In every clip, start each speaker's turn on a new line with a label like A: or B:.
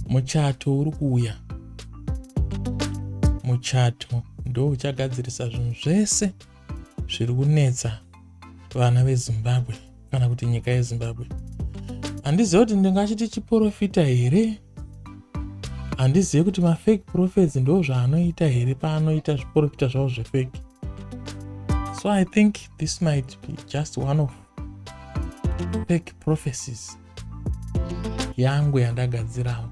A: muchato uri kuuya muchato ndo uchagadzirisa zvinhu zvese zviri kunetsa vana vezimbabwe kana kuti nyika yezimbabwe handiziva kuti ndingachiti chiporofita here handizive kuti mafake prophets ndo zvaanoita here paanoita zviporofita zvavo zvefake so i think this might be just one of fake prophecies yangu yandagadzirawo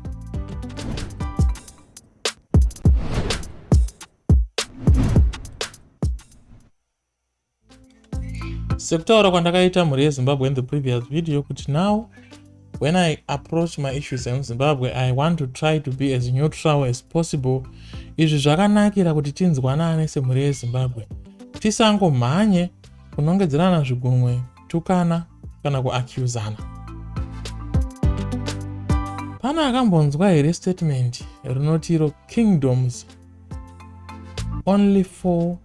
A: sekutaura kwandakaita mhuri yezimbabwe in the previous video kuti now when i approach my issues emuzimbabwe i want to try to be as neutral as possible izvi zvakanakira kuti tinzwanane semhuri yezimbabwe tisangomhanye kunongedzerana zvigunwe kutukana kana kuaccusana pane akambonzwa here statement rinoti iro kingdoms only for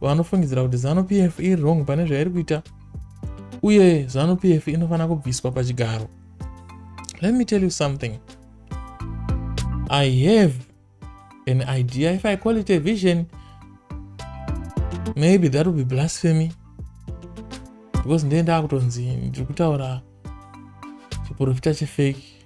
A: vanofungidzira kuti zanu pf iri wrong pane zvairi kuita uye zanu pf inofanira kubviswa pachigaro let me tell you something i have an idea if i call it a vision maybe that will be blasphemy because ndee ndaakutonzi ndiri kutaura chiprofita chefake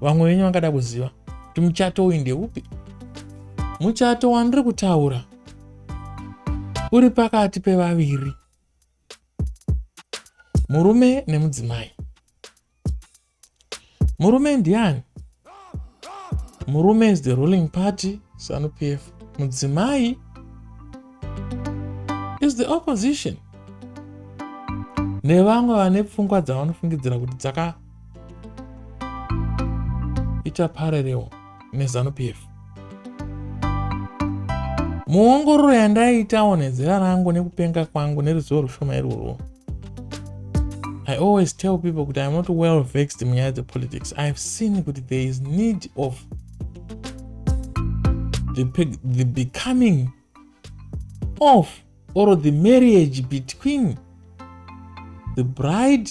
A: vamwe venyu vangada kuziva kuti muchato uyu ndeupi muchato wandiri kutaura uri pakati pevaviri murume nemudzimai murume ndiani murume is the ruling party zanu p f mudzimai is the opposition nevamwe vane pfungwa dzavanofungidzira kuti dzaka ita parallel nezanu pf muongororo yandaitawo nezera rangu nekupenga kwangu neruzivo rushoma irworwo i always tell people kuti iam not well vexed munyaya dzepolitics ihave seen kuti there is need of the, the becoming of or the marriage between the bride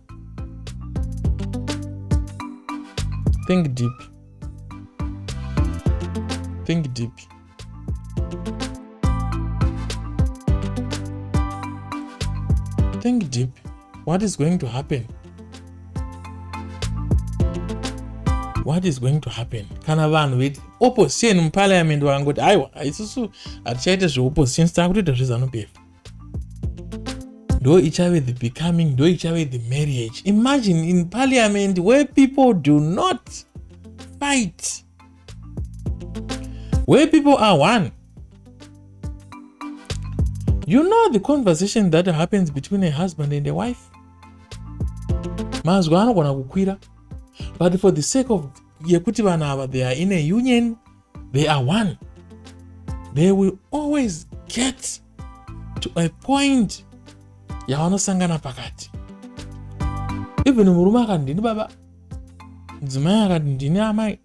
A: Think deep. Think deep. Think deep. What is going to happen? what is going to happen kana vanhu veti opposition muparliament vangoti aiwa isusu hatichaite zveopposition sitava kutoita zvezanupf ndo ichave the becoming ndo ichave the marriage imagine in parliament where people do not fight where people are one you know the conversation that happens between a husband and a wife mazwi anogona kukwira but for the sake of yekuti vanhu ava they are in a union they are one they will always get to a point yavanosangana pakati even murume akati ndini baba mudzimai akati ndini amai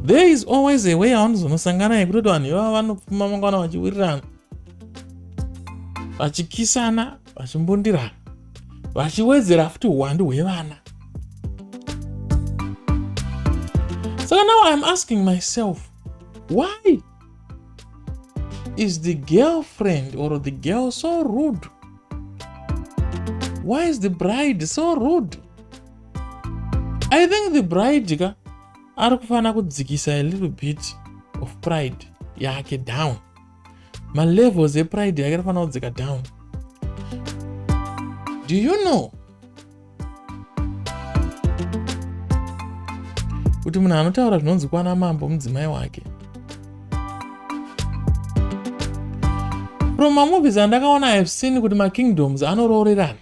A: there is always a way yavanozonosangana yekutoti vanhu ivava vanopfuma mangwana vachiwirirana vachikisana vachimbundira vachiwedzera futi uwandu hwevana saka now iam asking myself why is the girlfriend or the girl so rude why is the bride so rude i think the bride ka ari kufanira kudzikisa a little bit of pride yake down malevels epride yake anofanira kudzika down do you know kuti munhu anotaura zvinonzi kwana mambo mudzimai wake from mamovies andakaona ihave seen kuti makingdoms anoroorerana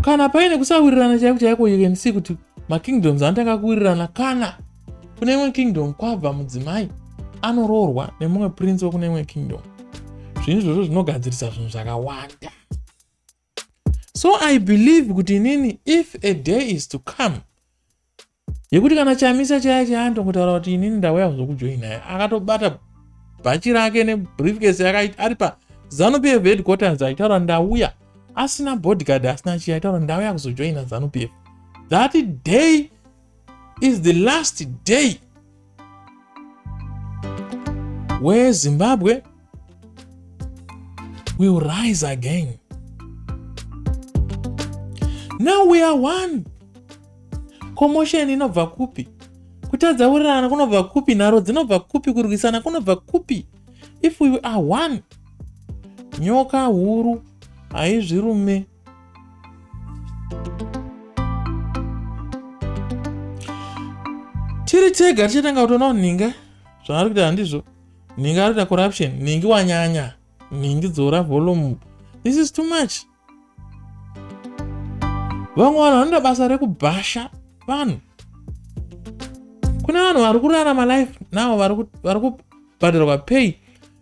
A: kana paine kusawirirana chaiko chaiko you can see kuti makingdoms anotanga kuwirirana kana kune imwe kingdom kwabva mudzimai anoroorwa nemumwe prince wekune imwe kingdom zvinhu izvozvo zvinogadzirisa zvinhu zvakawanda so i believe kuti inini if a day is to come yekuti kana chamisa chaya chaantongotaura kuti inini ndauya kuzokujoinai akatobata bhachi rake nebriefcase yake ari pazanu pf headquarters aitaura ndauya asina bodyguard asina chiya aitaura ndauya kuzojoina zanu pf that day is the last day where Zimbabwe will rise again. Now we are one. Commotion inobva kupi? Kutadza kurirana kunobva kupi? Nharo dzinobva kupi? Kurwisana kunobva kupi? If we are one, nyoka huru haizvirume. tiri tega tichatanga kutoona kuti nhinga zvaari kuita handizvo nhinga ari kuita corruption nhingi wanyanya nhingi dzora volume this is too much vamwe vanhu vanoda basa rekubhasha vanhu kune vanhu vari kurarama life now vari kubhadharwa pay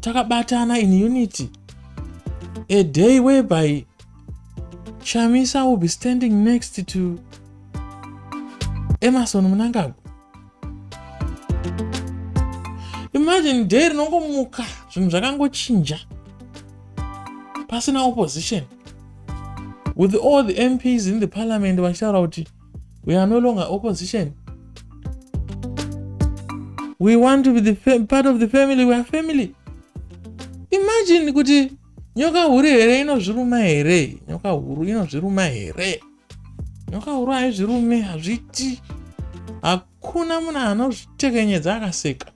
A: takabatana in unity a day whereby chamisa will be standing next to emerson munangagwa imagine day rinongomuka zvinhu zvakangochinja pasina opposition with all the mps in the parliament vachitaura kuti we are no longer opposition we want to be the part of the family we are family imagine kuti nyoka huru here inozviruma here nyoka huru inozviruma here nyoka huru haizvirume hazviti Ak Kuna munhu anozvitekenyedza akaseka.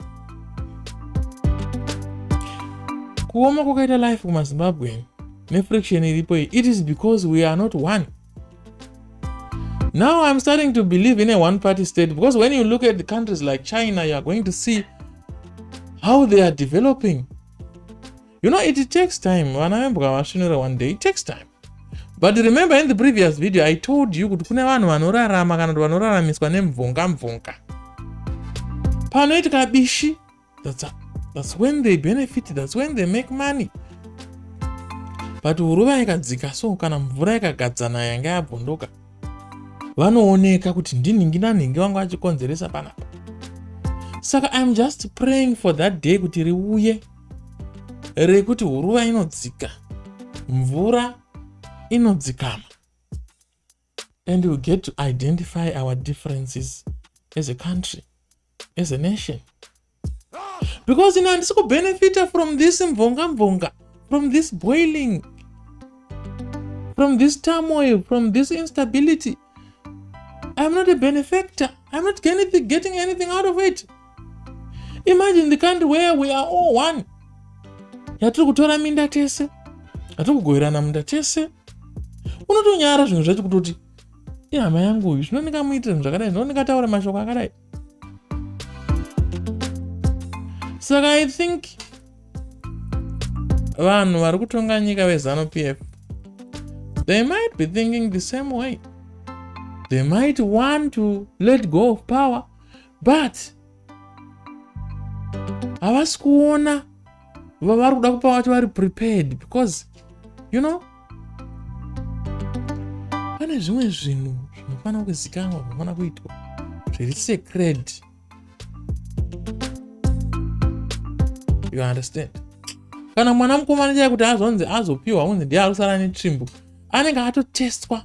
A: Kuoma kwakaita life kumaZimbabwean nefriction iripo iyi it is because we are not one. Now I'm starting to believe in a one party state because when you look at the countries like China, you are going to see how they are developing. you know it takes time vana vembwa vasvinura one day it takes time but remember in the previous video i told you kuti kune vanhu vanorarama kana kuti vanoraramiswa nemvunga mvunga panoitika bishi that's, that's when they benefit that's when they make money but huruva ikadzika so kana mvura ikagadzana yanga yabvunduka vanooneka kuti ndinhingi nanhingi vanga vachikonzeresa panapa saka iam just praying for that day kuti riuye rekuti huruva inodzika mvura inodzikama and we get to identify our differences as a country as a nation because ina handisi kubenefita from this mvonga mvonga from this boiling from this turmoil from this instability I'm not a benefactor. I'm not getting anything out of it. Imagine the country where we are all one. Yatiri kutora minda tese. Yatiri kugoverana minda tese. Unotonyara zvinhu zvacho kutoti ihama yangu uyu zvinonika muitira zvinhu zvakadai zvinonika taura mashoko akadai. saka i think vanhu vari kutonga nyika vezanu p f they might be thinking the same way they might want to let go of power but havasi kuona vavari kuda kupa vati vari prepared because you know pane zvimwe zvinhu zvinofanira kuzikanwa zvinofanira kuitwa zviri secred you understand kana mwana mukomana chai kuti azonzi azopiwa unzi ndiye ari kusara netsvimbo anenge atotestwa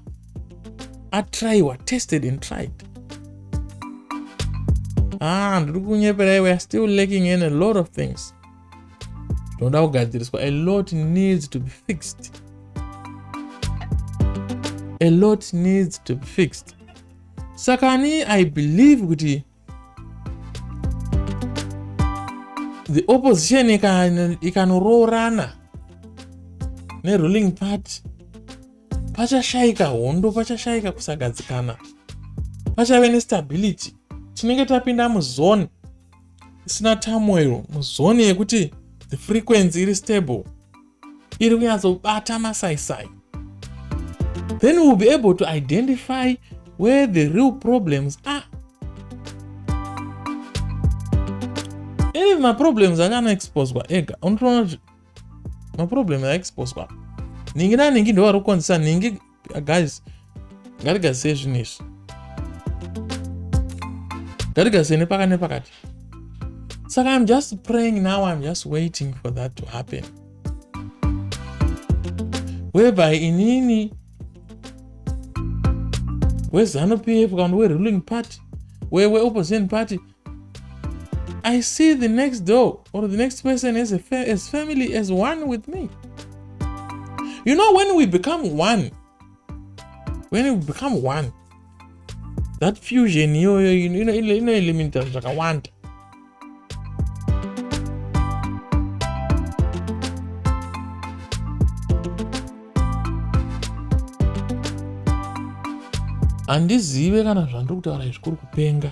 A: atraiwa tested and tried ah ndiri kunyeperaiwe are still lacking in a lot of things tinoda kugadziriswa a lot needs to be fixed a lot needs to be fixed saka ni i believe kuti the opposition ikanoroorana neruling party pachashaika hondo pachashaika kusagadzikana pachave nestability tinenge tapinda muzone isina turmoil muzoni yekuti the frequency iri stable iri kunyatsobata masaisai then we'll be able to identify where the real problems are any maproblems anga anoexposwa ega unotoona kuti maproblems aexposwa nhingi nanhingi ndovari kukonzesa nhingi guys ngatigadzisei zvinhu izvi ngatigadzisei nepakati nepakati saka im just praying now im just waiting for that to happen whereby inini wezanupf kana weruling party weweopposition party I see the next door or the next person as, a fa as family as one with me. You know, when we become one, when we become one, that fusion, you know, you know, you know, you know, like a want. handizive kana zvandiri kutaura izvi kuri kupenga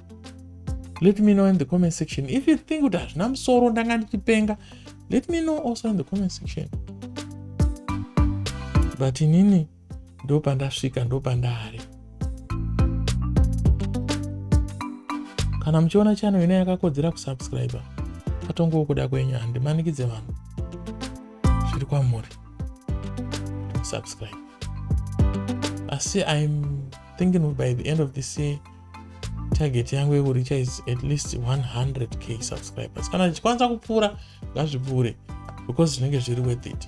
A: let me know in the comment section if you think kuti hazvina musoro ndanga ndichipenga let me know also in the comment section but inini ndopandasvika ndopandari kana muchiona channel ine yakakodzera kusubscriber patongowo kuda kwenyu handimanikidze vanhu zviri kwamuri subscribe asi im thinking by the end of this year target yangu yekuricha is at least 100k subscribers kana zvichikwanisa kupfuura ngazvipfuure because zvinenge zviri worth it